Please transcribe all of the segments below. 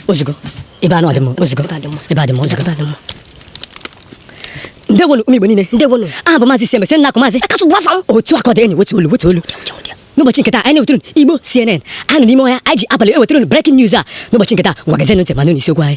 ozugbo ebe anụ adị mma ozugbo ebe adị mma ozugbo ndewonu ụmụ Igbo niile ndewonu aha bụ maazị Seme Seme na-akụ maazị akatụ bụ afa m otu aka ọ dị enyi wetuo olu wetuo olu n'ụbọchị nke taa anyị na-ewetụrụ Igbo CNN anọ n'ime ọhịa anyị ji abalị ewetụrụ breaking news a n'ụbọchị nke taa ngwa gezienụ ntị ma nụ n'isiokwu anyị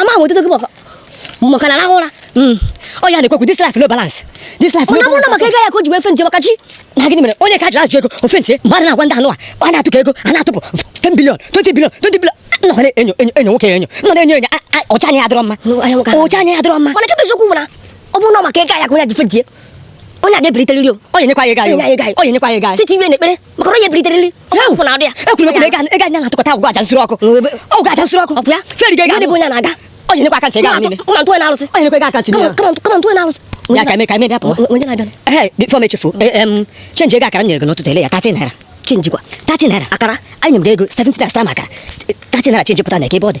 ama m etete gị maka na arahụ ụra hmm. ọ ya na-ekwekwu this life no balance this life no balance ọ bụrụ na maka ego ya ka o ji wee faint maka chi na gịnị mere onye ka jụrụ ajụ ego ọ faint mgbe a na-agwa ndị anụ a ọ na-atụ ka ego a na-atụpụ 10 billion 20 billion 20 billion nọkwa na-enyo enyo enyo nwoke enyo nọ na-enyo enyo ọcha anya adịrọ mma ọcha anya adịrọ mma mana kebe eziokwu bụ na ọ bụrụ na maka ego ya ka onye ji faint onye a ga-ebiliteriri o onye nyekwa ya ego anyị o onye nyekwa ya ego anyị site iwe n'ekpere maka onye bilitere ọkụ na adị ya ekwuru ekwu na ego anyị na-atụkọta agwụgwo aja nsuru ọkụ ọ gwụgwo aja nsuru ọkụ ọ bụ ya feri ga-ega bụ onye na-aga ọ nyekwa account ego ahụ niile kama ntụwe na-arụsị ọ nyekwa ego account niile kama ntụwe na-arụsị ya ka eme ka eme bịa pụọ onye na-abịa ehe before m echefu change ego akara m nyere gị n'ụtụtụ ele ya 30 naira change kwa 30 naira akara anyị nyere m gị ego 70 naira sara m akara 30 naira change pụta na eke ebe ọ dị